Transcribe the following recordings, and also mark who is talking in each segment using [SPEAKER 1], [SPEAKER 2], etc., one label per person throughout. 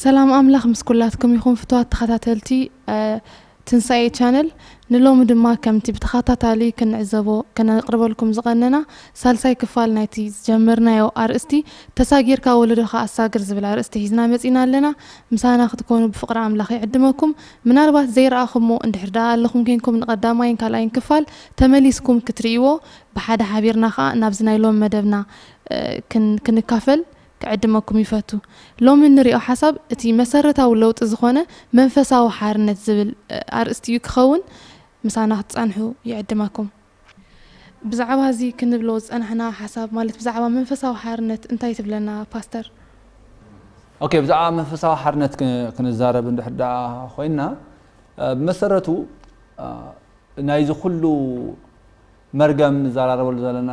[SPEAKER 1] ሰላም ኣምላኽ ምስ ኩላትኩም ይኹን ፍትዋት ተኸታተልቲ ትንሳኤ ቻነል ንሎሚ ድማ ከምቲ ብተኸታታሊ ክንዕዘቦ ከነቅርበልኩም ዝቐነና ሳልሳይ ክፋል ናይቲ ዝጀመርናዮ ኣርእስቲ ተሳጊርካ ወለዶኻ ኣሳግር ዝብል ኣርእስቲ ሒዝና መፂና ኣለና ምሳና ክትኮኑ ብፍቕሪ ኣምላኽ ይዕድመኩም ምናልባት ዘይረኣኹሞ እንድሕር ደኣ ኣለኹም ኮንኩም ንቐዳማይን ካልኣይን ክፋል ተመሊስኩም ክትርእይዎ ብሓደ ሓቢርና ከዓ ናብዚ ናይ ሎም መደብና ክንካፈል ክዕድመኩም ይፈቱ። ሎሚ እንሪኦ ሓሳብ እቲ መሰረታዊ ለውጢ ዝኾነ መንፈሳዊ ሓርነት ዝብል ኣርእስቲ እዩ ክኸውን ምሳና ክትጸንሑ ይዕድመኩም። ብዛዕባ እዚ ክንብሎ ዝጸናሕና ሓሳብ ማለት ብዛዕባ መንፈሳዊ ሓርነት እንታይ ትብለና ፓስተር?
[SPEAKER 2] ኦኬ ብዛዕባ መንፈሳዊ ሓርነት ክንዛረብ እንድሕር ደኣ ኮይንና ብመሰረቱ ናይዚ ኩሉ መርገም ንዘራረበሉ ዘለና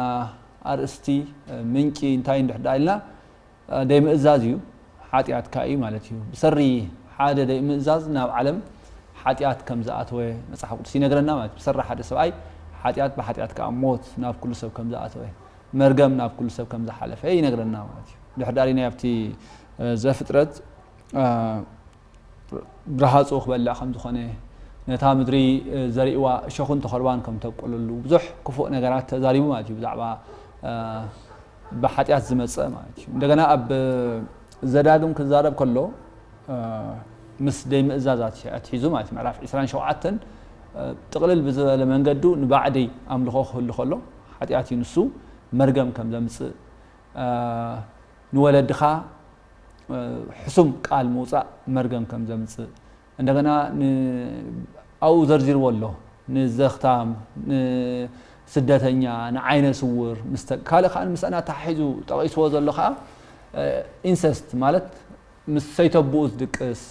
[SPEAKER 2] ኣርእስቲ፣ ምንጪ፣ እንታይ እንድሕር ደኣ ኢልና፣ ደይምእዛዝ እዩ፣ ሓጢኣት ከኣ እዩ ማለት እዩ። ብሰሪ ሓደ ደይምእዛዝ ናብ ዓለም ሓጢኣት ከም ዝኣተወ መጽሓፍ ቅዱስ ይነግረና ማለት እዩ። ብሰሪ ሓደ ሰብኣይ ሓጢኣት፣ ብሓጢኣት ከኣ ሞት ናብ ኩሉ ሰብ ከም ዝኣተወ፣ መርገም ናብ ኩሉ ሰብ ከም ዝሓለፈ ይነግረና ማለት እዩ። እንድሕር ደኣ ርኢናዮ ኣብቲ ዘፍጥረት፣ ብረሃጹ ክበልዕ ከም ዝኾነ፣ ነታ ምድሪ ዘሪእዋ እሾኽን ተኾርባን ከም ተብቁለሉ ብዙሕ ክፉእ ነገራት ተዛሪቡ ማለት እዩ ብዛዕባ ብሓጢኣት ዝመጸ ማለት እዩ። እንደገና ኣብ ዘዳግም ክዛረብ ከሎ ምስ ዘይምእዛዝ ኣትሒዙ ማለት እዩ ምዕራፍ 27 ጥቕልል ብዝበለ መንገዱ ንባዕዲ ኣምልኾ ክህሉ ከሎ ሓጢኣት እዩ ንሱ መርገም ከም ዘምጽእ ንወለድኻ ሕሱም ቃል ምውጻእ መርገም ከም ዘምጽእ እንደገና ኣብኡ ዘርዚርዎ ኣሎ ንዘኽታም ንስደተኛ ንዓይነ ስውር ካልእ ከዓ ምስኣን ኣተሓሒዙ ጠቒስዎ ዘሎ ከዓ ኢንሰስት ማለት ምስ ሰይተብኡ ዝድቅስ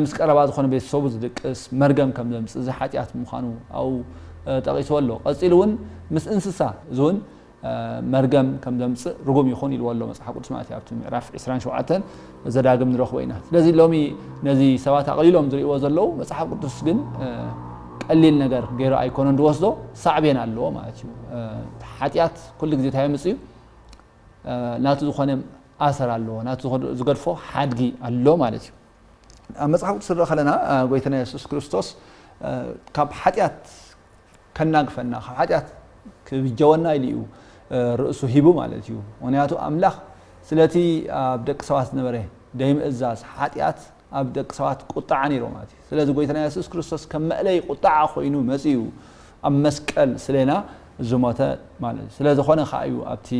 [SPEAKER 2] ምስ ቀረባ ዝኾነ ቤተሰቡ ዝድቅስ መርገም ከም ዘምጽእ፣ እዚ ሓጢኣት ምዃኑ ኣብኡ ጠቒስዎ ኣሎ። ቀጺሉ እውን ምስ እንስሳ፣ እዚ እውን መርገም ከም ዘምጽእ ርጉም ይኹን ኢልዎ ኣሎ መጽሓፍ ቅዱስ ማለት እዩ፣ ኣብቲ ምዕራፍ ዕስራን ሸውዓተን ዘዳግም ንረኽቦ ኢና። ስለዚ ሎሚ ነዚ ሰባት ኣቕሊሎም ዝርእይዎ ዘለዉ፣ መጽሓፍ ቅዱስ ግን ቀሊል ነገር ገይሩ ኣይኮነን ዝወስዶ፣ ሳዕቤን ኣለዎ ማለት እዩ። ሓጢኣት ኩሉ ግዜ እንታይ የምጽእ እዩ? ናቱ ዝኾነ ኣሰር ኣለዎ፣ ናቱ ዝገድፎ ሓድጊ ኣሎ ማለት እዩ። ኣብ መጽሓፍ ቅዱስ ንርኢ ከለና ጎይታና የሱስ ክርስቶስ ካብ ሓጢኣት ከናግፈና ካብ ሓጢኣት ክብጀወና ኢሉ እዩ ርእሱ ሂቡ ማለት እዩ። ምክንያቱ ኣምላኽ ስለቲ ኣብ ደቂ ሰባት ዝነበረ ደይምእዛዝ ሓጢኣት ኣብ ደቂ ሰባት ቁጥዓ ነይሩ ማለት እዩ ስለዚ ጎይታና የሱስ ክርስቶስ ከም መእለይ ቁጥዓ ኮይኑ መጺኡ ኣብ መስቀል ስሌና ዝሞተ ማለት እዩ ስለዝኾነ ከኣ እዩ ኣብቲ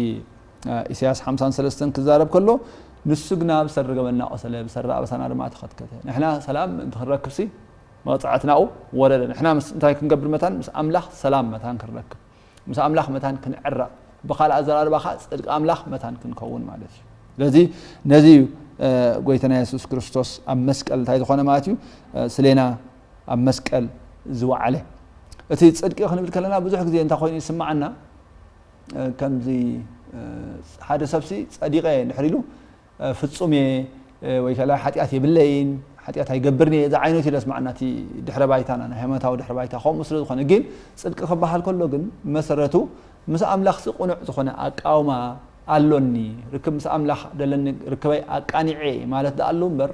[SPEAKER 2] ኢሳያስ ሓምሳን ሰለስተን ክዛረብ ከሎ ንሱ ግና ብሰሪ ገበንና ቆሰለ ብሰሪ ኣበሳና ድማ ተኸትከተ ንሕና ሰላም ምእንቲ ክንረክብሲ መቕጻዕትናኡ ወረደ ንሕና ምስ እንታይ ክንገብር መታን ምስ ኣምላኽ ሰላም መታን ክንረክብ ምስ ኣምላኽ መታን ክንዕረቕ ብካልእ ኣዘራርባ ከኣ ጽድቂ ኣምላኽ መታን ክንከውን ማለት እዩ ስለዚ ነዚ እዩ ጎይታና የሱስ ክርስቶስ ኣብ መስቀል እንታይ ዝኾነ ማለት እዩ ስሌና ኣብ መስቀል ዝወዓለ እቲ ጽድቂ ክንብል ከለና ብዙሕ ግዜ እንታይ ኮይኑ ይስማዓና ከምዚ ሓደ ሰብሲ ጸዲቀ ንሕሪሉ ፍጹም እየ ወይ ከላ ሓጢኣት የብለይን፣ ሓጢኣት ኣይገብርን እየ ዝዓይነቱ እዩ ዘስመዓና እቲ ድሕረ ባይታና፣ ናይ ሃይማኖታዊ ድሕረ ባይታ ከምኡ ስለ ዝኾነ። ግን ጽድቂ ክበሃል ከሎ ግን ብመሰረቱ ምስ ኣምላኽሲ ቅኑዕ ዝኾነ ኣቃውማ ኣሎኒ፣ ርክብ ምስ ኣምላኽ ደለኒ ርክበይ ኣቃኒዐ እየ ማለት ደኣሉ እምበር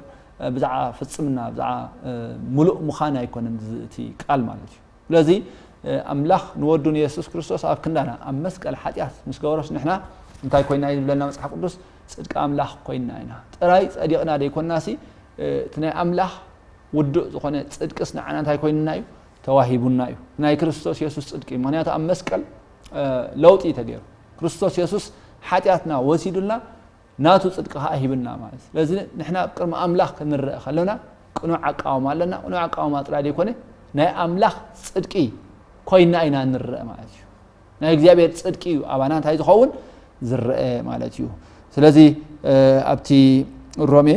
[SPEAKER 2] ብዛዕባ ፍጽምና ብዛዕባ ምሉእ ምዃን ኣይኮነን እቲ ቃል ማለት እዩ። ስለዚ ኣምላኽ ንወዱ ንየሱስ ክርስቶስ ኣብ ክንዳና ኣብ መስቀል ሓጢኣት ምስ ገበሮስ ንሕና እንታይ ኮይና እዩ ዝብለና መጽሓፍ ቅዱስ ጽድቂ ኣምላኽ ኮይና ኢና ጥራይ ጸዲቕና ደይኮናሲ እቲ ናይ ኣምላኽ ውዱእ ዝኾነ ጽድቅስ ንዓና እንታይ ኮይንና እዩ ተዋሂቡና እዩ ናይ ክርስቶስ የሱስ ጽድቂ እዩ ምክንያቱ ኣብ መስቀል ለውጢ እዩ ተገይሩ ክርስቶስ የሱስ ሓጢኣትና ወሲዱልና ናቱ ጽድቂ ከኣ ሂብና ማለት እዩ። ስለዚ ንሕና ኣብ ቅድሚ ኣምላኽ ክንረኣ ከሎና ቅኑዕ ኣቃውማ ኣለና። ቅኑዕ ኣቃውማ ጥራይ ዘይኮነ ናይ ኣምላኽ ጽድቂ ኮይና ኢና እንረኣ ማለት እዩ። ናይ እግዚኣብሔር ጽድቂ እዩ ኣባና እንታይ ዝኸውን ዝረኣ ማለት እዩ። ስለዚ ኣብቲ ሮሜ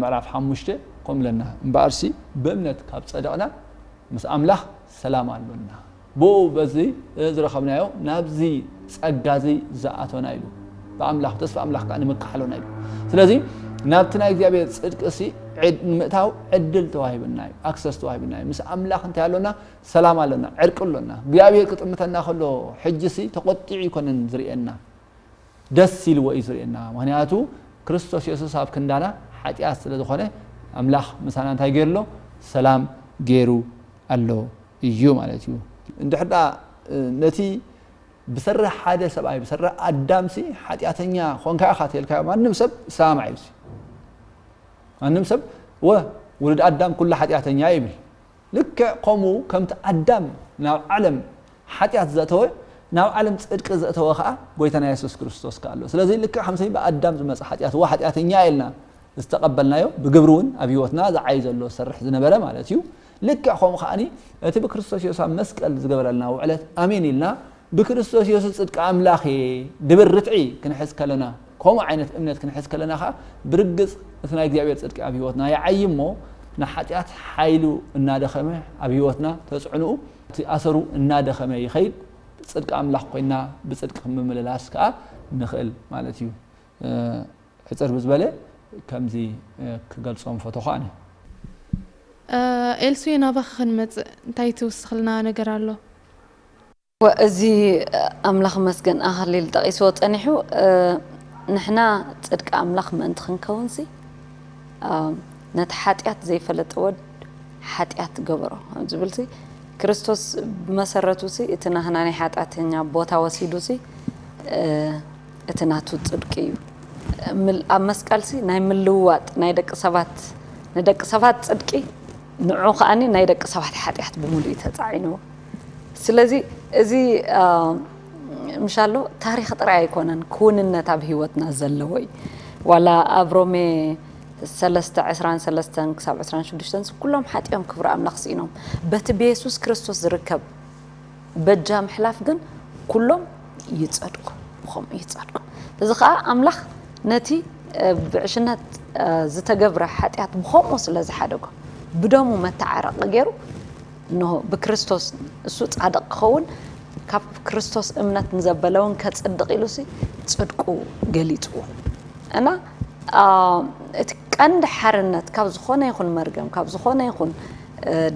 [SPEAKER 2] ምዕራፍ ሓሙሽተ ከምኡ ኢለና እምበኣርሲ ብእምነት ካብ ጸደቕና ምስ ኣምላኽ ሰላም ኣሎና። ብእኡ በዚ ዝረኸብናዮ ናብዚ ጸጋ እዚ ዝኣቶና ኢሉ ብኣምላኽ ተስፋ ኣምላኽ ከኣ ንምካሓሎና ኢሉ ስለዚ ናብቲ ናይ እግዚኣብሔር ጽድቂ ሲ ንምእታው ዕድል ተዋሂብና እዩ ኣክሰስ ተዋሂብና እዩ ምስ ኣምላኽ እንታይ ኣሎና ሰላም ኣሎና ዕርቂ ኣሎና እግዚኣብሔር ክጥምተና ከሎ ሕጂ ሲ ተቆጢዑ ይኮነን ዝርእየና ደስ ኢልዎ እዩ ዝርእየና ምክንያቱ ክርስቶስ የሱስ ኣብ ክንዳና ሓጢኣት ስለ ዝኾነ ኣምላኽ ምሳና እንታይ ገይሩ ኣሎ ሰላም ገይሩ ኣሎ እዩ ማለት እዩ። እንድሕር ደኣ ነቲ ብሰሪ ሓደ ሰብኣይ፣ ብሰሪ ኣዳምሲ ሓጢኣተኛ ኾንካ ኢኻ ተልካዮ፣ ማንም ሰብ ይሰማማዕ እዩ እዚ። ማንም ሰብ ወ ውሉድ ኣዳም ኩሉ ሓጢኣተኛ ይብል። ልክዕ ከምኡ ከምቲ ኣዳም ናብ ዓለም ሓጢኣት ዘእተወ፣ ናብ ዓለም ጽድቂ ዘእተወ ከኣ ጎይታና የሱስ ክርስቶስ ከኣ ኣሎ። ስለዚ ልክዕ ከምቲ ብኣዳም ዝመጸ ሓጢኣት ወ ሓጢኣተኛ ኢልና ዝተቐበልናዮ፣ ብግብሪ እውን ኣብ ህይወትና ዝዓዪ ዘሎ ዝሰርሕ ዝነበረ ማለት እዩ። ልክዕ ከምኡ ከኣ እቲ ብክርስቶስ የሱስ ኣብ መስቀል ዝገበረልና ውዕለት ኣሜን ኢልና ብክርስቶስ የሱስ ጽድቂ ኣምላኽ እየ ድብል ርትዒ ክንሕዝ ከለና ከምኡ ዓይነት እምነት ክንሕዝ ከለና ከኣ ብርግጽ እቲ ናይ እግዚኣብሔር ጽድቂ ኣብ ህይወትና ይዓይ እሞ ንሓጢኣት ሓይሉ እናደኸመ ኣብ ህይወትና ተጽዕንኡ እቲ ኣሰሩ እናደኸመ ይኸይድ ጽድቂ ኣምላኽ ኮይና ብጽድቂ ክምምልላስ ከኣ ንኽእል ማለት እዩ። ሕጽር ብዝበለ ከምዚ ክገልጾም ፈተኹ ኣነ።
[SPEAKER 1] ኤልሱየ ናባኺ ክንመጽእ እንታይ ትውስኽልና ነገር ኣሎ? እወ
[SPEAKER 3] እዚ ኣምላኽ ይመስገን ኣኸሊል ጠቒስዎ ጸኒሑ ንሕና ጽድቂ ኣምላኽ ምእንቲ ክንከውንሲ ነቲ ሓጢኣት ዘይፈለጠ ወድ ሓጢኣት ገበሮ ኣብ ዝብልሲ ክርስቶስ ብመሰረቱሲ እቲ ናህና ናይ ሓጢኣተኛ ቦታ ወሲዱሲ እቲ ናቱ ጽድቂ እዩ። ኣብ መስቀልሲ ናይ ምልውዋጥ ናይ ደቂ ሰባት ንደቂ ሰባት ጽድቂ ንዑ ከኣኒ ናይ ደቂ ሰባት ሓጢኣት ብምሉእ እዩ ተጻዒንዎ። ስለዚ እዚ ምሻሎ ታሪኽ ጥራይ ኣይኮነን ክውንነት ኣብ ህይወትና ዘለዎ እዩ። ዋላ ኣብ ሮሜ ሰለስተ ዕስራን ሰለስተን ክሳብ ዕስራን ሽዱሽተን ኩሎም ሓጢኦም ክብሪ ኣምላኽ ስኢኖም በቲ ብየሱስ ክርስቶስ ዝርከብ በጃ ምሕላፍ ግን ኩሎም ይጸድቁ ብኸምኡ ይጸድቁ እዚ ከኣ ኣምላኽ ነቲ ብዕሽነት ዝተገብረ ሓጢኣት ብኸምኡ ስለ ዝሓደጎ ብደሙ መተዓረቂ ገይሩ እንሆ ብክርስቶስ እሱ ጻድቕ ክኸውን ካብ ክርስቶስ እምነት ንዘበለውን ከጽድቕ ኢሉሲ ጽድቁ ገሊጹ እና እቲ ቀንዲ ሓርነት ካብ ዝኾነ ይኹን መርገም ካብ ዝኾነ ይኹን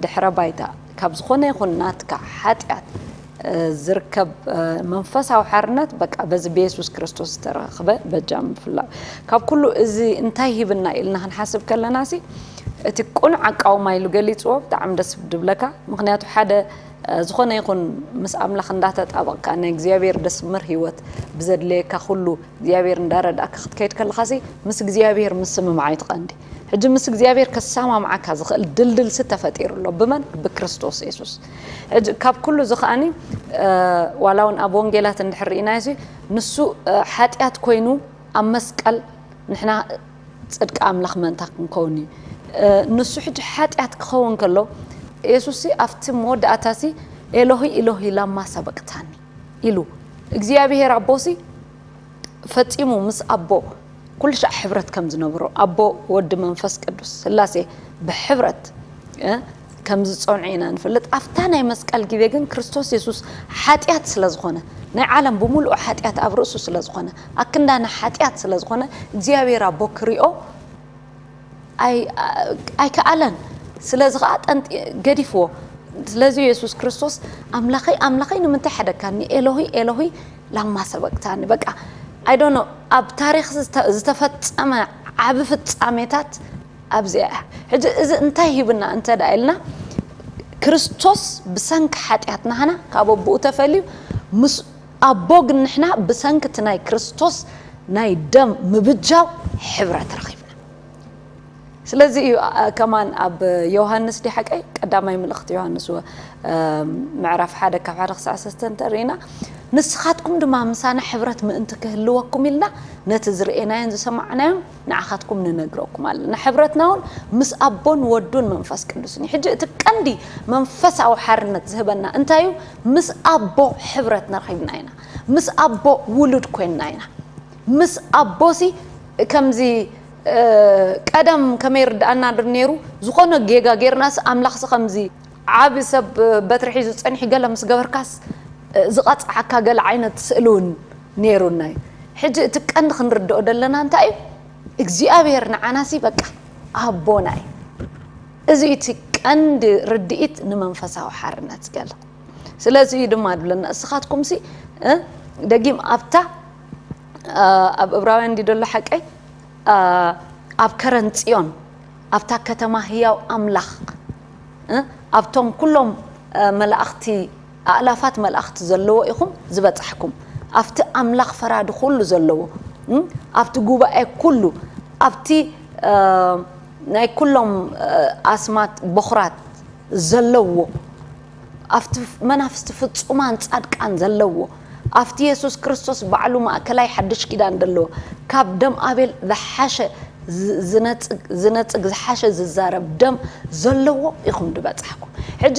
[SPEAKER 3] ድሕረ ባይታ ካብ ዝኾነ ይኹን ናትካ ሓጢኣት ዝርከብ መንፈሳዊ ሓርነት በቃ በዚ ብየሱስ ክርስቶስ ዝተረኽበ በጃ ምፍላጥ ካብ ኩሉ እዚ እንታይ ሂብና ኢልና ክንሓስብ ከለና ሲ እቲ ቅኑዕ ኣቃውማ ኢሉ ገሊፅዎ ብጣዕሚ ደስ ድብለካ ምክንያቱ ሓደ ዝኾነ ይኹን ምስ ኣምላኽ እንዳተጣበቕካ ናይ እግዚኣብሔር ደስምር ህይወት ብዘድለየካ ኩሉ እግዚኣብሔር እንዳረዳእካ ክትከይድ ከለኻሲ ምስ እግዚኣብሔር ምስምምዓይ ትቐንዲ ሕጂ ምስ እግዚኣብሔር ከሰማምዓካ ዝኽእል ድልድል ሲ ተፈጢሩ ኣሎ ብመን ብክርስቶስ የሱስ ሕጂ ካብ ኩሉ እዚ ከኣኒ ዋላ እውን ኣብ ወንጌላት እንድሕር ርኢናዮ ሲ ንሱ ሓጢኣት ኮይኑ ኣብ መስቀል ንሕና ጽድቂ ኣምላኽ መንታ ክንከውን እዩ ንሱ ሕጂ ሓጢኣት ክኸውን ከሎ የሱስ ሲ ኣብቲ መወዳእታ ሲ ኤሎሂ ኤሎሂ ላማ ሰበቅታኒ ኢሉ እግዚኣብሔር ኣቦ ሲ ፈጺሙ ምስ ኣቦ ኩልሻዕ ሕብረት ከም ዝነብሮ ኣቦ ወዲ መንፈስ ቅዱስ ስላሴ ብሕብረት ከም ዝጸንዑ ኢና ንፈልጥ ኣብታ ናይ መስቀል ግዜ ግን ክርስቶስ የሱስ ሓጢኣት ስለ ዝኾነ ናይ ዓለም ብምሉኡ ሓጢኣት ኣብ ርእሱ ስለ ዝኾነ ኣክንዳና ሓጢኣት ስለ ዝኾነ እግዚኣብሔር ኣቦ ክሪኦ ኣይከኣለን ስለዚ ከዓ ጠንጢ ገዲፍዎ ስለዚ የሱስ ክርስቶስ ኣምላኸይ ኣምላኸይ ንምንታይ ሓደግካኒ ኤሎሂ ኤሎሂ ላማ ሰበቅታኒ በቃ ኣይዶኖ ኣብ ታሪክ ዝተፈፀመ ዓብ ፍፃሜታት ኣብዚኣ እያ ሕጂ እዚ እንታይ ሂብና እንተ ደኣ ኢልና ክርስቶስ ብሰንኪ ሓጢኣትና ሃና ካብ ኣቦኡ ተፈልዩ ምስ ኣቦ ግን ንሕና ብሰንኪ እቲ ናይ ክርስቶስ ናይ ደም ምብጃው ሕብረት ረኺብና ስለዚ እዩ ከማን ኣብ ዮሃንስ ዲ ሓቀይ ቀዳማይ ምልእኽቲ ዮሃንስ ምዕራፍ ሓደ ካብ ሓደ ክሳዕ ሰስተ እንተርኢና ንስኻትኩም ድማ ምሳና ሕብረት ምእንቲ ክህልወኩም ኢልና ነቲ ዝርኤናዮን ዝሰማዕናዮን ንዓኻትኩም ንነግረኩም ኣለና ሕብረትና እውን ምስ ኣቦን ወዱን መንፈስ ቅዱስን እዩ ሕጂ እቲ ቀንዲ መንፈሳዊ ሓርነት ዝህበና እንታይ እዩ ምስ ኣቦ ሕብረት ነርኺብና ኢና ምስ ኣቦ ውሉድ ኮይንና ኢና ምስ ኣቦሲ ከምዚ ቀደም ከመይ ርድኣና ድር ነይሩ ዝኾነ ጌጋ ጌርናስ ኣምላኽሲ ከምዚ ዓቢ ሰብ በትሪ ሒዙ ጸኒሑ ገለ ምስ ገበርካስ ዝቐጽዓካ ገለ ዓይነት ስእሊ እውን ነይሩና እዩ ሕጂ እቲ ቀንዲ ክንርድኦ ደለና እንታይ እዩ እግዚኣብሔር ንዓናሲ በቃ ኣቦና እዩ እዚ እዩ እቲ ቀንዲ ርድኢት ንመንፈሳዊ ሓርነት ገለ። ስለዚ እዩ ድማ ድብለና እስኻትኩምሲ እ ደጊም ኣብታ ኣብ እብራውያን እንዲ ደሎ ሓቀይ ኣብ ከረን ጽዮን ኣብታ ከተማ ህያው ኣምላኽ እ ኣብቶም ኩሎም መላእኽቲ ኣእላፋት መላእክት ዘለዎ ኢኹም ዝበጻሕኩም ኣብቲ ኣምላኽ ፈራዲ ኩሉ ዘለዎ ኣብቲ ጉባኤ ኩሉ ኣብቲ ናይ ኩሎም ኣስማት ቦኹራት ዘለዎ ኣብቲ መናፍስቲ ፍጹማን ጻድቃን ዘለዎ ኣብቲ የሱስ ክርስቶስ ባዕሉ ማእከላይ ሓድሽ ኪዳን ዘለዎ ካብ ደም ኣቤል ዝሓሸ ዝነጽግ ዝሓሸ ዝዛረብ ደም ዘለዎ ኢኹም ድበጻሕኩም ሕጂ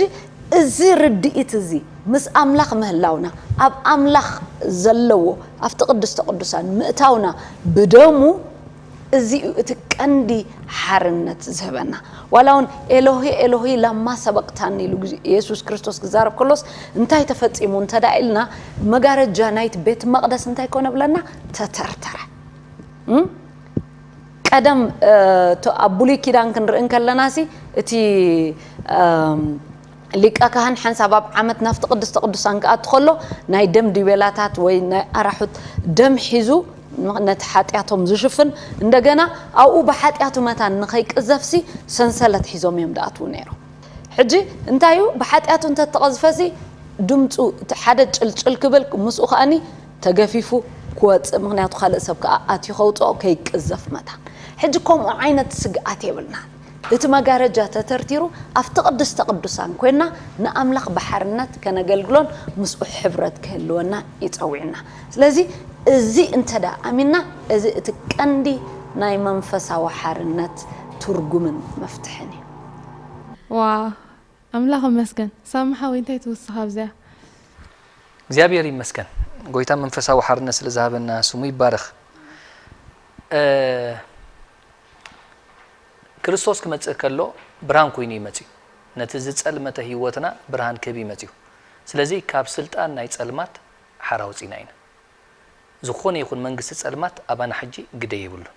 [SPEAKER 3] እዚ ርድኢት እዚ ምስ ኣምላኽ ምህላውና፣ ኣብ ኣምላኽ ዘለዎ ኣብቲ ቅድስተ ቅዱሳን ምእታውና ብደሙ እዚ እዩ እቲ ቀንዲ ሓርነት ዝህበና። ዋላ እውን ኤሎሄ ኤሎሄ ላማ ሰበቅታኒ ኢሉ የሱስ ክርስቶስ ክዛረብ ከሎስ እንታይ ተፈጺሙ እንተድኣ ኢልና መጋረጃ ናይቲ ቤት መቅደስ እንታይ ኮነ እብለና ተተርተረ። ቀደም ኣብ ብሉይ ኪዳን ክንርኢ እንከለናሲ እቲ ሊቀ ካህን ሓንሳብ ኣብ ዓመት ናብቲ ቅድስተ ቅዱሳን ክኣቱ ከሎ ናይ ደም ዲቤላታት ወይ ናይ ኣራሑት ደም ሒዙ ነቲ ሓጢኣቶም ዝሽፍን እንደገና ኣብኡ ብሓጢኣቱ መታን ንኸይቅዘፍሲ ሰንሰለት ሒዞም እዮም ድኣትዉ ነይሮም ሕጂ እንታይ እዩ ብሓጢኣቱ እንተተቐዝፈሲ ድምፁ ሓደ ጭልጭል ክብል ምስኡ ከኣኒ ተገፊፉ ክወጽእ ምክንያቱ ካልእ ሰብ ከኣ ኣትዩ ከውጽኦ ከይቅዘፍ መታን ሕጂ ከምኡ ዓይነት ስግኣት የብልናን እቲ መጋረጃ ተተርቲሩ ኣብቲ ቅድስተ ቅዱሳን ኮይንና ንኣምላኽ ብሓርነት ከነገልግሎን ምስኡ ሕብረት ክህልወና እዩ ጸዊዑና ስለዚ እዚ እንተ ኣሚንና እዚ እቲ ቀንዲ ናይ መንፈሳዊ ሓርነት ትርጉምን መፍትሕን እዩ። ዋው
[SPEAKER 1] ኣምላኽ እመስገን ሳሚ ሓወይ እንታይ ትውስኽ ኣብዚኣ።
[SPEAKER 4] እግዚኣብሔር ይመስገን ጎይታ መንፈሳዊ ሓርነት ስለ ዝሃበና ስሙ ይባረኽ ክርስቶስ ክመጽእ ከሎ ብርሃን ኮይኑ እዩ መጽዩ ነቲ ዝጸልመተ ህይወትና ብርሃን ክህብ እዩ መጽዩ ስለዚ ካብ ስልጣን ናይ ጸልማት ሓራ ወጺና ኢና ዝኾነ ይኹን መንግስቲ ጸልማት ኣባና ሕጂ ግደ የብሉን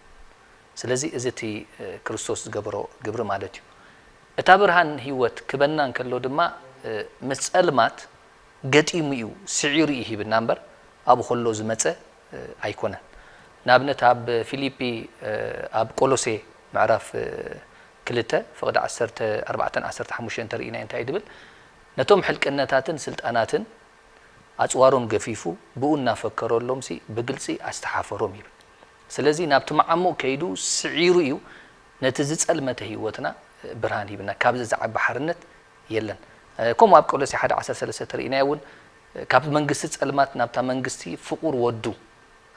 [SPEAKER 4] ስለዚ እዚ እቲ ክርስቶስ ዝገበሮ ግብሪ ማለት እዩ። እታ ብርሃን ህይወት ክበና እንከሎ ድማ ምስ ጸልማት ገጢሙ እዩ ስዒሩ እዩ ሂብና እምበር ኣብኡ ከሎ ዝመጸ ኣይኮነን። ንኣብነት ኣብ ፊሊጲ ኣብ ቆሎሴ ምዕራፍ ክልተ ፍቕዲ ዓሰርተ ኣርባዕተን ዓሰርተ ሓሙሽተን እንተርኢናዮ እንታይ እዩ ዝብል ነቶም ሕልቅነታትን ስልጣናትን ኣጽዋሮም ገፊፉ ብኡ እናፈከረሎምሲ ብግልጺ ኣስተሓፈሮም ይብል። ስለዚ ናብቲ መዓሙቕ ከይዱ ስዒሩ እዩ ነቲ ዝጸልመተ ህይወትና ብርሃን ሂብና። ካብዚ ዝዓቢ ሓርነት የለን። ከምኡ ኣብ ቆሎሴ ሓደ ዓሰርተ ሰለስተ ተሪኢናዮ እውን ካብ መንግስቲ ጸልማት ናብታ መንግስቲ ፍቑር ወዱ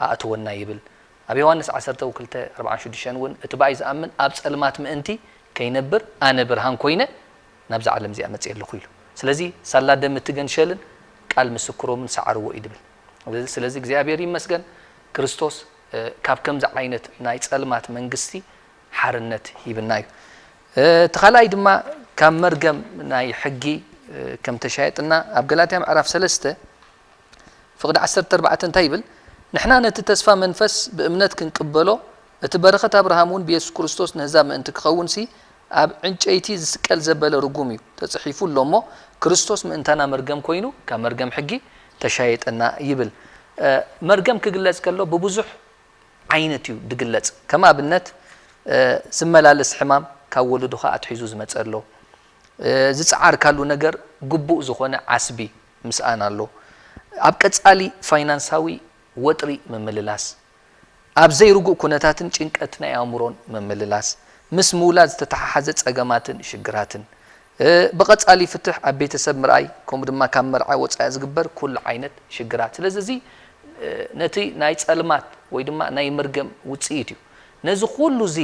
[SPEAKER 4] ኣእተወና ይብል። ኣብ ዮሃንስ ዓሰርተው ክልተ ኣርብዓን ሽዱሽተን እውን እቲ ብኣይ ዝኣምን ኣብ ጸልማት ምእንቲ ከይነብር ኣነ ብርሃን ኮይነ ናብዛ ዓለም እዚኣ መጺኤ ኣለኹ ኢሉ። ስለዚ ሳላ ደም እቲ ገንሸልን ቃል ምስክሮምን ሰዓርዎ እዩ ድብል። ስለዚ እግዚኣብሔር ይመስገን ክርስቶስ ካብ ከምዚ ዓይነት ናይ ጸልማት መንግስቲ ሓርነት ሂብና እዩ። እቲ ካልኣይ ድማ ካብ መርገም ናይ ሕጊ ከም ተሻየጥና ኣብ ገላትያ ምዕራፍ ሰለስተ ፍቕዲ ዓሰርተ ኣርባዕተ እንታይ ይብል? ንሕና ነቲ ተስፋ መንፈስ ብእምነት ክንቅበሎ እቲ በረኸት ኣብርሃም እውን ብየሱስ ክርስቶስ ንህዛብ ምእንቲ ክኸውንሲ ኣብ ዕንጨይቲ ዝስቀል ዘበለ ርጉም እዩ ተጽሒፉ ኣሎ እሞ ክርስቶስ ምእንታና መርገም ኮይኑ ካብ መርገም ሕጊ ተሻየጠና ይብል መርገም ክግለጽ ከሎ ብብዙሕ ዓይነት እዩ ድግለጽ ከም ኣብነት ዝመላለስ ሕማም ካብ ወለዶኻ ኣትሒዙ ዝመጸ ኣሎ ዝጸዓርካሉ ነገር ግቡእ ዝኾነ ዓስቢ ምስኣን ኣሎ ኣብ ቀጻሊ ፋይናንሳዊ ወጥሪ ምምልላስ ኣብ ዘይርጉእ ኩነታትን ጭንቀት ናይ ኣእምሮን ምምልላስ፣ ምስ ምውላድ ዝተተሓሓዘ ጸገማትን ሽግራትን፣ ብቐጻሊ ፍትሕ ኣብ ቤተሰብ ምርኣይ ከምኡ ድማ ካብ መርዓ ወጻኢ ዝግበር ኩሉ ዓይነት ሽግራት። ስለዚ እዚ ነቲ ናይ ጸልማት ወይ ድማ ናይ መርገም ውጽኢት እዩ። ነዚ ኩሉ እዚ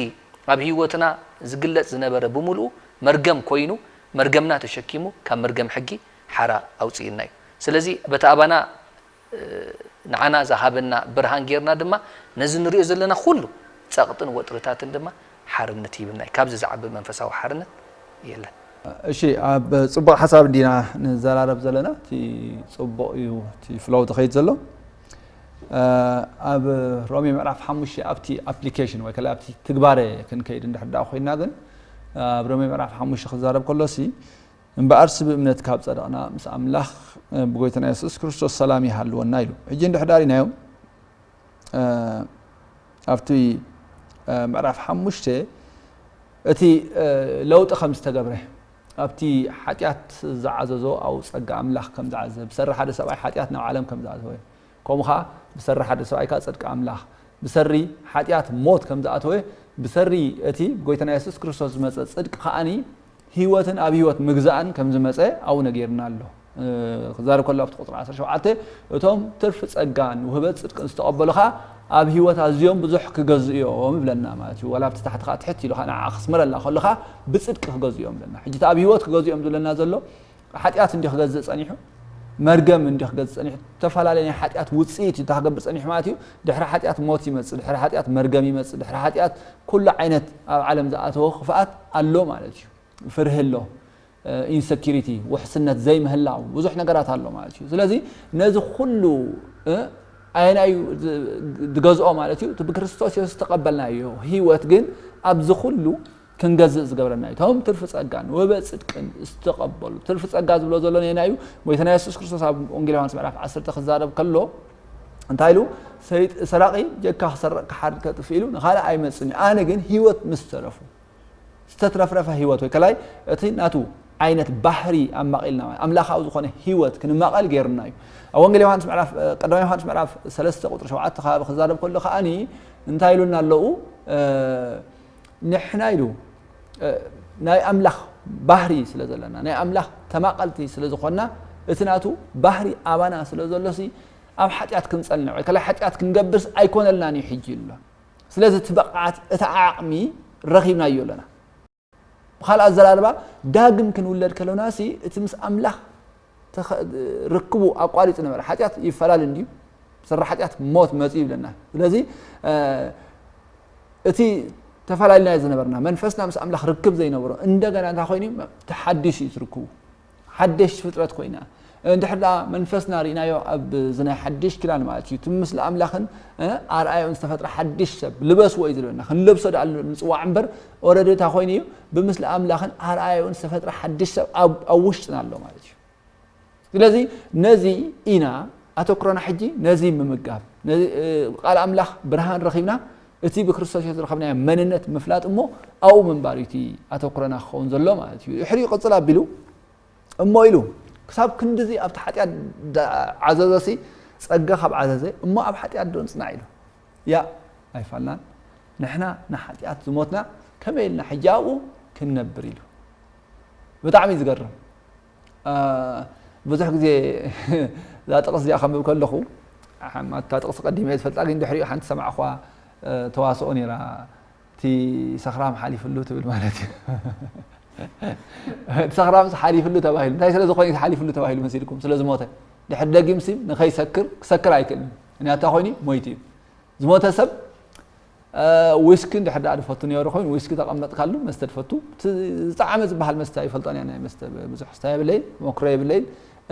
[SPEAKER 4] ኣብ ህይወትና ዝግለጽ ዝነበረ ብምልኡ መርገም ኮይኑ መርገምና ተሸኪሙ ካብ መርገም ሕጊ ሓራ ኣውጽኡና እዩ። ስለዚ በቲ ኣባና ንዓና ዝሃበና ብርሃን ጌርና ድማ ነዚ ንርእዮ ዘለና ኩሉ ጸቕጥን ወጥርታትን ድማ ሓርነት ሂብና እዩ። ካብዚ ዝዓቢ መንፈሳዊ ሓርነት የለን። እሺ
[SPEAKER 2] ኣብ ጽቡቅ ሓሳብ እንዲና ንዘራረብ ዘለና እቲ ጽቡቅ እዩ እቲ ፍሎው ዝኸይድ ዘሎ ኣብ ሮሜ ምዕራፍ ሓሙሽተ ኣብቲ ኣፕሊኬሽን ወይ ከላ ኣብቲ ትግባረ ክንከይድ እንድሕር ኮይና ግን ኣብ ሮሜ ምዕራፍ ሓሙሽተ ክዛረብ ከሎሲ እምበኣርሲ ብእምነት ካብ ጸደቕና ምስ ኣምላኽ ብጎይታና የሱስ ክርስቶስ ሰላም ይሃልወና ኢሉ። ሕጂ እንድሕር ዳሪናዮ ኣብቲ ምዕራፍ ሓሙሽተ እቲ ለውጢ ከም ዝተገብረ ኣብቲ ሓጢኣት ዝዓዘዞ ኣብኡ ጸጋ ኣምላኽ ከም ዝዓዘዘ ብሰሪ ሓደ ሰብኣይ ሓጢኣት ናብ ዓለም ከም ዝኣተወ ከምኡ ኸኣ ብሰሪ ሓደ ሰብኣይ ከኣ ጽድቂ ኣምላኽ ብሰሪ ሓጢኣት ሞት ከም ዝኣተወ ብሰሪ እቲ ብጐይታና የሱስ ክርስቶስ ዝመጸ ጽድቂ ከኣ ህይወትን ኣብ ህይወት ምግዛእን ከም ዝመጸ ኣብኡ ነጊሩና ኣሎ። ክዛረብ ከሎ ኣብቲ ቁጽሪ ዓሰርተ ሸውዓተ እቶም ትርፊ ጸጋን ውህበት ጽድቅን ዝተቐበሉ ኸኣ ኣብ ህይወት ኣዝዮም ብዙሕ ክገዝኡ እዮም ይብለና ማለት እዩ። ዋላ ኣብቲ ታሕቲ ኸኣ ትሕት ኢሉ ኸኣ ንዓኣ ክስምረልና ከሎ ኸኣ ብጽድቂ ክገዝኡ እዮም ይብለና። ሕጂ እቲ ኣብ ህይወት ክገዝኡ እዮም ዝብለና ዘሎ ሓጢኣት እንድዩ ክገዝእ ጸኒሑ፣ መርገም እንድዩ ክገዝእ ጸኒሑ፣ እተፈላለየ ናይ ሓጢኣት ውጽኢት እዩ እታ ክገብር ጸኒሑ ማለት እዩ፣ ድሕሪ ሓጢኣት ሞት ይመጽእ፣ ድሕሪ ሓጢኣት መርገም ይመጽእ፣ ድሕሪ ሓጢኣት ኩሉ ዓይነት ኣብ ዓለም ዝኣተወ ክፍኣት ኣሎ ማለት እዩ፣ ፍርሂ ኣሎ፣ ኢንሰኪሪቲ ውሕስነት ዘይምህላው ብዙሕ ነገራት ኣሎ ማለት እዩ፣ ስለዚ ነዚ ኩሉ ኣየናይ እዩ ዝገዝኦ ማለት እዩ፣ እቲ ብክርስቶስ የሱስ ዝተቐበልናዮ ህይወት ግን ኣብዚ ኩሉ ክንገዝእ ዝገብረና እዩ። እቶም ትርፊ ጸጋ ንወበ ጽድቅን ዝተቐበሉ ትርፊ ጸጋ ዝብሎ ዘሎ ነና እዩ። ጎይታና የሱስ ክርስቶስ ኣብ ወንጌል ዮሃንስ ምዕራፍ ዓሰርተ ክዛረብ ከሎ እንታይ ኢሉ ሰራቂ ጀካ ክሰርቅ ክሓርድ ከጥፍ ኢሉ ንካልእ ኣይመጽን እዩ ኣነ ግን ህይወት ምስ ተረፉ ዝተትረፍረፈ ህይወት ወይ ከላይ እቲ ናቱ ዓይነት ባህሪ ኣማቒልና ማለት ኣምላኻዊ ዝኾነ ህይወት ክንማቐል ገይሩና እዩ ኣብ ወንጌል ዮሃንስ ምዕራፍ ቀዳማ ዮሃንስ ምዕራፍ ሰለስተ ቁጥሪ ሸውዓተ ከባቢ ክዛረብ ከሎ ከዓኒ እንታይ ኢሉና ኣለዉ ንሕና ኢሉ ናይ ኣምላኽ ባህሪ ስለ ዘለና ናይ ኣምላኽ ተማቐልቲ ስለ ዝኾንና እቲ ናቱ ባህሪ ኣባና ስለ ዘሎሲ ኣብ ሓጢኣት ክንጸንዕ ወይ ከላ ሓጢኣት ክንገብርስ ኣይኮነልናን እዩ ሕጂ ኢሉ ኣሎ ስለዚ እቲ ብቕዓት እቲ ዓቕሚ ረኺብናዮ ኣለና ብካልእ ኣዘራርባ ዳግም ክንውለድ ከለናሲ እቲ ምስ ኣምላኽ ርክቡ ኣቋሪጹ ነበረ ሓጢኣት ይፈላለ እንድዩ ስረ ሓጢኣት ሞት መጽኡ ይብለና ስለዚ እቲ ተፈላለናዮ ዝነበርና መንፈስና ምስ ኣምላኽ ርክብ ዘይነበሮ እንደገና እንታይ ኮይኑ ተሓዲሱ እዩ ትርክቡ ሓደሽቲ ፍጥረት ኮይና እንድሕር ደኣ መንፈስና ርኢናዮ ኣብ ዝናይ ሓድሽ ኪዳን ማለት እዩ እቲ ምስሊ ኣምላኽን ኣርኣዮን ዝተፈጥረ ሓድሽ ሰብ ልበስዎ እዩ ዝለና ክንለብሶ ደኣ ንፅዋዕ እምበር ኦረዲ እንታይ ኮይኑ እዩ ብምስሊ ኣምላኽን ኣርኣያኡን ዝተፈጥረ ሓድሽ ሰብ ኣብ ውሽጥና ኣሎ ማለት እዩ ስለዚ ነዚ ኢና ኣተኩሮና ሕጂ ነዚ ምምጋብ ቃል ኣምላኽ ብርሃን ረኺብና እቲ ብክርስቶስ ዮ ዝረኸብና መንነት ምፍላጥ እሞ ኣብኡ ምንባር እዩ እቲ ኣተኩረና ክኸውን ዘሎ ማለት እዩ ድሕሪ ቅፅል ኣቢሉ እሞ ኢሉ ክሳብ ክንዲዚ ኣብቲ ሓጢኣት ዓዘዘሲ ፀጋ ካብ ዓዘዘ እሞ ኣብ ሓጢኣት ዶ ንፅናዕ ኢሉ ያእ ኣይፋልናን ንሕና ንሓጥያት ዝሞትና ከመይ ኢልና ሕጂ ኣብኡ ክንነብር ኢሉ ብጣዕሚ እዩ ዝገርም ብዙሕ ግዜ እዛ ጥቕስ እዚኣ ከንብብ ከለኹ እታ ጥቕሲ ቀዲመ እየ ዝፈልጣ ግን ድሕሪኡ ሓንቲ ሰማዕኳ ተዋስኦ ነይራ እቲ ሰኽራም ሓሊፍሉ ትብል ማለት እዩ እቲ ሰኽራም ሓሊፍሉ ተባሂሉ እንታይ ስለ ዝኾነ ሓሊፍሉ ተባሂሉ መሲልኩም ስለ ዝሞተ ድሕሪ ደጊም ሲ ንኸይሰክር ክሰክር ኣይክእልን ምክንያቱ ኮይኑ ሞይቱ እዩ ዝሞተ ሰብ ዊስኪ ድሕር ዳኣ ድፈቱ ነሩ ኮይኑ ዊስኪ ተቐመጥካሉ መስተ ድፈቱ ዝጣዕመ ዝበሃል መስተ ይፈልጦን እያ ናይ መስተ ብዙሕ ስታ የብለይ መክሮ የብለይን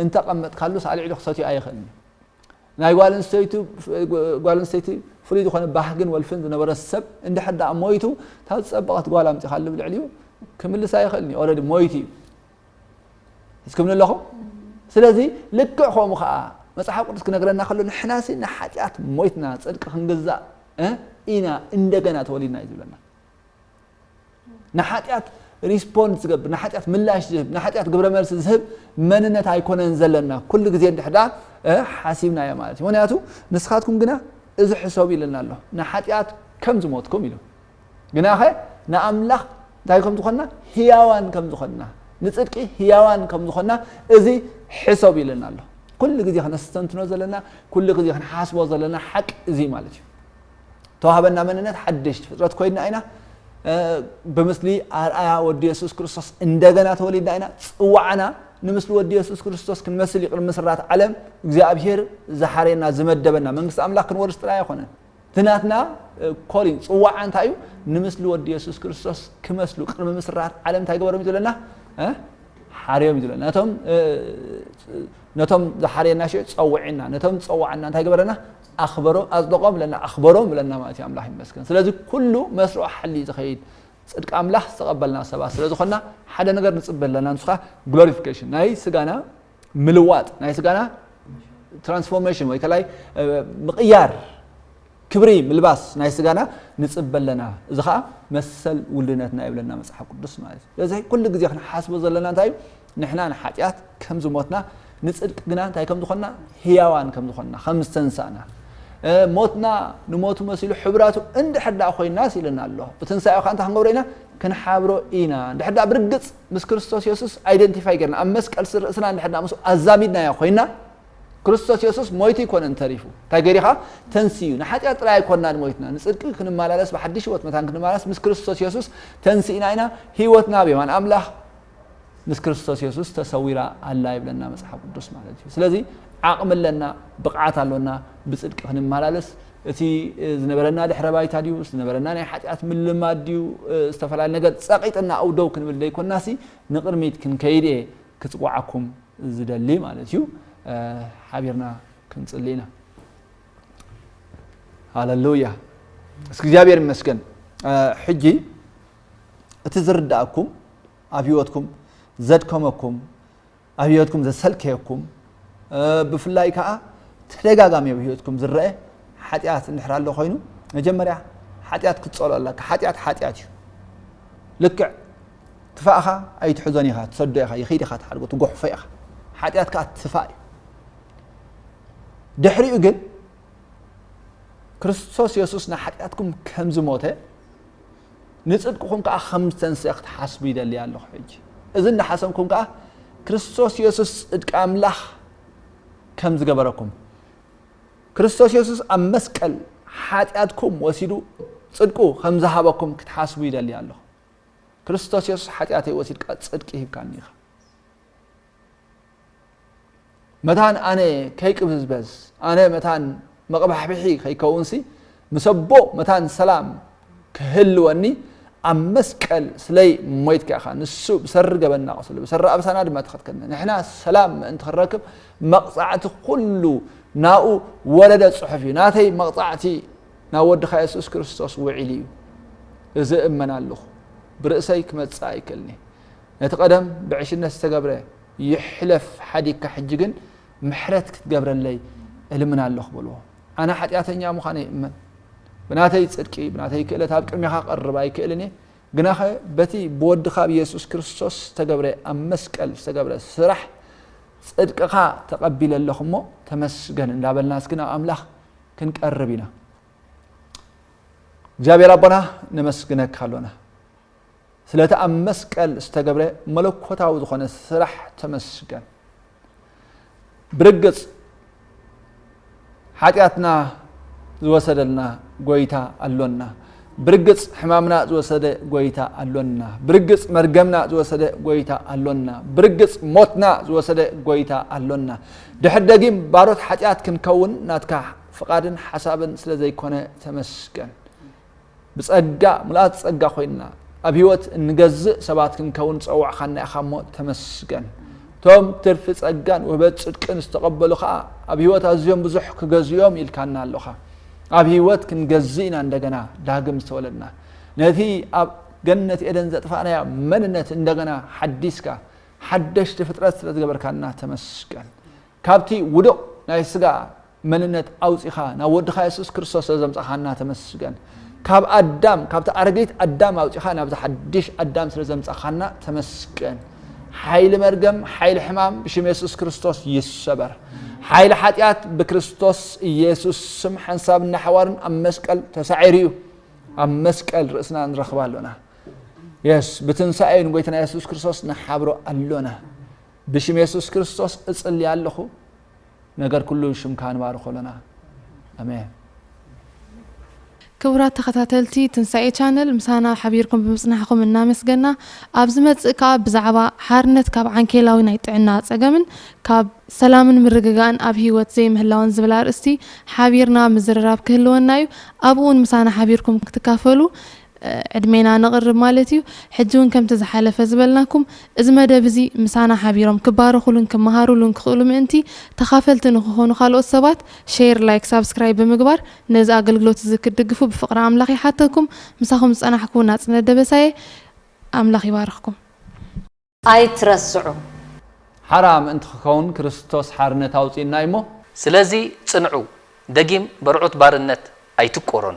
[SPEAKER 2] እንተቐመጥካሉ ሳልዕሉ ክሰትዩ ኣይኽእልን ናይ ጓል ኣንስተይቱ ጓል ኣንስተይቲ ፍሉይ ዝኾነ ባህግን ወልፍን ዝነበረ ሰብ እንድሕር ደኣ ሞይቱ እታ ዝጸበቐት ጓል ኣምጺኻሉ ኣብ ልዕሊኡ ክምልስ ኣይኽእልን እዩ ኦልሬዲ ሞይቱ እዩ እስክምኒ ኣለኹም ስለዚ ልክዕ ከምኡ ከዓ መፅሓፍ ቅዱስ ክነግረና ከሎ ንሕና ሲ ንሓጢኣት ሞይትና ፅድቂ ክንግዛእ ኢና እንደገና ተወሊድና እዩ ዝብለና ንሓጢኣት ሪስፖንድ ዝገብር ንሓጢኣት ምላሽ ዝህብ ንሓጢኣት ግብረ መልሲ ዝህብ መንነት ኣይኮነን ዘለና ኩሉ ግዜ እንድሕዳ ሓሲብናዮ ማለት እዩ ምክንያቱ ንስኻትኩም ግና እዚ ሕሰቡ ኢለና ኣሎ ንሓጢኣት ከም ዝሞትኩም ኢሉ ግና ኸ ንኣምላኽ እንታይ ከም ዝኾንና ህያዋን ከም ዝኾንና ንፅድቂ ህያዋን ከም ዝኾንና እዚ ሕሰብ ይለና ኣሎ ኩሉ ግዜ ክነስተንትኖ ዘለና ኩሉ ግዜ ክንሓስቦ ዘለና ሓቂ እዚ ማለት እዩ ዝተዋህበና መንነት ሓደሽቲ ፍጥረት ኮይንና ኢና። ብምስሊ ኣርኣያ ወዲ የሱስ ክርስቶስ እንደገና ተወሊድና ኢና። ጽዋዕና ንምስሊ ወዲ የሱስ ክርስቶስ ክንመስል ይቕድሚ ምስራት ዓለም እግዚኣብሄር ዝሓርየና ዝመደበና መንግስቲ ኣምላኽ ክንወርስ ጥራይ ኣይኮነን። እቲ ናትና ኮሊን ጽዋዓ እንታይ እዩ ንምስሊ ወዲ የሱስ ክርስቶስ ክመስሉ ቅድሚ ምስራት ዓለም እንታይ ገበሮም እዩ ዝብለና ሓርዮም እዩ ዝብለና ነቶም ዝሓርየና ሸ ፀውዕና ነቶም ዝፀዋዕና እንታይ ገበረና ኣኽበሮ ኣጽደቆም እለና ኣኽበሮም እለና ማለት እዩ ኣምላኽ ይመስገን ስለዚ ኩሉ መስርዑ ሓሊ እዩ ዝኸይድ ጽድቂ ኣምላኽ ዝተቐበልና ሰባት ስለ ዝኾና ሓደ ነገር ንጽበ ኣለና ንሱ ከዓ ግሎሪፊኬሽን ናይ ስጋና ምልዋጥ ናይ ስጋና ትራንስፎርሜሽን ወይ ከላይ ምቕያር ክብሪ ምልባስ ናይ ስጋና ንፅበ ኣለና እዚ ከዓ መሰል ውልድነትና ይብለና መፅሓፍ ቅዱስ ማለት እዩ ስለዚ ኩሉ ግዜ ክንሓስቦ ዘለና እንታይ እዩ ንሕና ንሓጢኣት ከም ዝሞትና ንጽድቂ ግና እንታይ ከም ዝኾንና ህያዋን ከም ዝኾንና ከም ዝተንሳእና ሞትና ንሞቱ መሲሉ ሕብራቱ እንድሕር ደኣ ኮይናስ ኢለና ኣሎ ብትንሳኤ ከዓ እንታይ ክንገብሮ ኢና ክንሓብሮ ኢና እንድሕር ደኣ ብርግጽ ምስ ክርስቶስ የሱስ ኣይደንቲፋይ ጌርና ኣብ መስቀል ርእስና እንድሕር ደኣ ምስ ኣዛሚድናዮ ኮይና ክርስቶስ የሱስ ሞይቱ ኣይኮነን ተሪፉ እንታይ ገሪኻ ተንስዩ ንሓጢኣት ጥራይ ኣይኮናን ሞይትና ንፅድቂ ክንመላለስ ብሓድሽ ህይወት መታን ክንመላለስ ምስ ክርስቶስ የሱስ ተንስእና ኢና ህይወትና ብየማን ኣምላኽ ምስ ክርስቶስ የሱስ ተሰዊራ ኣላ ይብለና መጽሓፍ ቅዱስ ማለት እዩ ስለዚ ዓቕሚ ኣለና ብቕዓት ኣሎና ብጽድቂ ክንመላለስ እቲ ዝነበረና ድሕረ ባይታ ድዩ ዝነበረና ናይ ሓጢኣት ምልማድ ድዩ ዝተፈላለዩ ነገር ጸቒጥና ኣው ደው ክንብል ዘይኮናሲ ንቕድሚት ክንከይድ እየ ክጽዋዓኩም ዝደሊ ማለት እዩ ሓቢርና ክንጽሊ ኢና ሃለሉያ እስኪ እግዚኣብሔር ይመስገን ሕጂ እቲ ዝርዳኣኩም ኣብ ሂወትኩም ዘድከመኩም ኣብ ሂወትኩም ዘሰልከየኩም ብፍላይ ከዓ ተደጋጋሚ ኣብ ሂወትኩም ዝረአ ሓጢኣት እንድሕር ኣሎ ኮይኑ መጀመርያ ሓጢኣት ክትፀልኦ ኣለካ ሓጢኣት ሓጢኣት እዩ ልክዕ ትፋእኻ ኣይትሕዞን ኢኻ ትሰዶ ኢኻ ይኽድ ኢኻ ትሓድጎ ትጎሕፎ ኢኻ ሓጢኣት ከዓ ትፋእ እዩ ድሕሪኡ ግን ክርስቶስ የሱስ ንሓጢኣትኩም ከም ዝሞተ ንጽድቅኹም ከኣ ከም ዝተንስኤ ክትሓስቡ ይደሊ ኣለኹ። ሕጂ እዚ እናሓሰብኩም ከኣ ክርስቶስ የሱስ ጽድቂ ኣምላኽ ከም ዝገበረኩም፣ ክርስቶስ የሱስ ኣብ መስቀል ሓጢኣትኩም ወሲዱ ጽድቁ ከም ዝሃበኩም ክትሓስቡ ይደሊ ኣለኹ። ክርስቶስ የሱስ ሓጢኣተይ ወሲድካ ጽድቂ ሂብካኒ ኢኻ። መታን ኣነ ከይቅብዝበዝ ኣነ መታን መቕባሕብሒ ከይከውንሲ ምስ ኣቦ መታን ሰላም ክህልወኒ ኣብ መስቀል ስለይ ሞይትካ ኢኻ ንሱ ብሰሪ ገበና ቁስሉ ብሰሪ ኣብሳና ድማ ተኸትከልና ንሕና ሰላም ምእንቲ ክንረክብ መቕጻዕቲ ኩሉ ናኡ ወረደ ጽሑፍ እዩ ናተይ መቕጻዕቲ ናብ ወድኻ የሱስ ክርስቶስ ውዒሉ እዩ እዚ እመን ኣለኹ ብርእሰይ ክመጽእ ኣይክእልኒ ነቲ ቀደም ብዕሽነት ዝተገብረ ይሕለፍ ሓዲግካ ሕጂ ግን ምሕረት ክትገብረለይ እልምና ኣለኹ በልዎ። ኣነ ሓጢኣተኛ ምዃነይ እመን። ብናተይ ጽድቂ ብናተይ ክእለት ኣብ ቅድሜኻ ክቐርብ ኣይክእልን እየ፣ ግናኸ በቲ ብወድኻ ብየሱስ ክርስቶስ ዝተገብረ ኣብ መስቀል ዝተገብረ ስራሕ ጽድቅኻ ተቐቢለ ኣለኹ እሞ ተመስገን እንዳበልና እስኪ ናብ ኣምላኽ ክንቀርብ ኢና። እግዚኣብሔር ኣቦና ነመስግነካ ኣሎና። ስለቲ ኣብ መስቀል ዝተገብረ መለኮታዊ ዝኾነ ስራሕ ተመስገን። ብርግጽ ሓጢኣትና ዝወሰደልና ጎይታ ኣሎና። ብርግጽ ሕማምና ዝወሰደ ጎይታ ኣሎና። ብርግጽ መርገምና ዝወሰደ ጎይታ ኣሎና። ብርግጽ ሞትና ዝወሰደ ጎይታ ኣሎና። ድሕር ደጊም ባሮት ሓጢኣት ክንከውን ናትካ ፍቓድን ሓሳብን ስለ ዘይኮነ ተመስገን። ብጸጋ ምልኣት ጸጋ ኮይንና ኣብ ህይወት እንገዝእ ሰባት ክንከውን ዝጸዋዕካና ኢኻ እሞ ተመስገን። እቶም ትርፊ ጸጋን ውህበት ጽድቅን ዝተቐበሉ ከኣ ኣብ ህይወት ኣዝዮም ብዙሕ ክገዝኡ እዮም ኢልካና ኣሎኻ። ኣብ ህይወት ክንገዝእ ኢና እንደገና ዳግም ዝተወለድና። ነቲ ኣብ ገነት ኤደን ዘጥፋእናዮ መንነት እንደገና ሓዲስካ ሓደሽቲ ፍጥረት ስለ ዝገበርካና ተመስገን። ካብቲ ውዱቕ ናይ ስጋ መንነት ኣውጺኻ ናብ ወድኻ የሱስ ክርስቶስ ስለዘምጻኻና ተመስገን። ካብ ኣዳም ካብቲ ኣረጊት ኣዳም ኣውጺኻ ናብዚ ሓድሽ ኣዳም ስለዘምጻኻና ተመስገን። ሓይሊ መርገም ሓይሊ ሕማም ብሽም የሱስ ክርስቶስ ይሰበር። ሓይሊ ሓጢኣት ብክርስቶስ ኢየሱስ ስም ሓንሳብን ናሓዋርን ኣብ መስቀል ተሳዒሩ እዩ። ኣብ መስቀል ርእስና ንረኽብ ኣሎና። የስ ብትንሳኤ ንጎይትና የሱስ ክርስቶስ ንሓብሮ ኣሎና። ብሽም የሱስ ክርስቶስ እጽልይ ኣለኹ። ነገር ኩሉ ሽምካ ንባርኮ ኣሎና ኣሜን።
[SPEAKER 1] ክቡራት ተኸታተልቲ ትንሳኤ ቻነል ምሳና ሓቢርኩም ብምጽናሕኩም እናመስገና ኣብ ዝመጽእ ከኣ ብዛዕባ ሓርነት ካብ ዓንኬላዊ ናይ ጥዕና ጸገምን ካብ ሰላምን ምርግጋእን ኣብ ህይወት ዘይምህላውን ዝብል ኣርእስቲ ሓቢርና ምዝርራብ ክህልወና እዩ ኣብኡውን ምሳና ሓቢርኩም ክትካፈሉ ዕድሜና ነቕርብ ማለት እዩ። ሕጂ ውን ከምቲ ዝሓለፈ ዝበልናኩም እዚ መደብ እዚ ምሳና ሓቢሮም ክባረኹሉን ክመሃሩሉን ክኽእሉ ምእንቲ ተኻፈልቲ ንኽኾኑ ካልኦት ሰባት ሼር ላይክ ሳብስክራይብ ብምግባር ነዚ ኣገልግሎት እዚ ክትድግፉ ብፍቕሪ ኣምላኽ ይሓተኩም ምሳኹም ዝጸናሕኩ ናጽነት ደበሳይ እየ ኣምላኽ ይባርኽኩም።
[SPEAKER 3] ኣይትረስዑ። ሓራ
[SPEAKER 2] ምእንቲ ክከውን ክርስቶስ ሓርነት
[SPEAKER 4] ኣውጽኡና
[SPEAKER 2] እዩሞ።
[SPEAKER 4] ስለዚ ጽንዑ፣
[SPEAKER 2] ደጊም
[SPEAKER 4] በርዑት
[SPEAKER 2] ባርነት
[SPEAKER 4] ኣይትቆረኑ።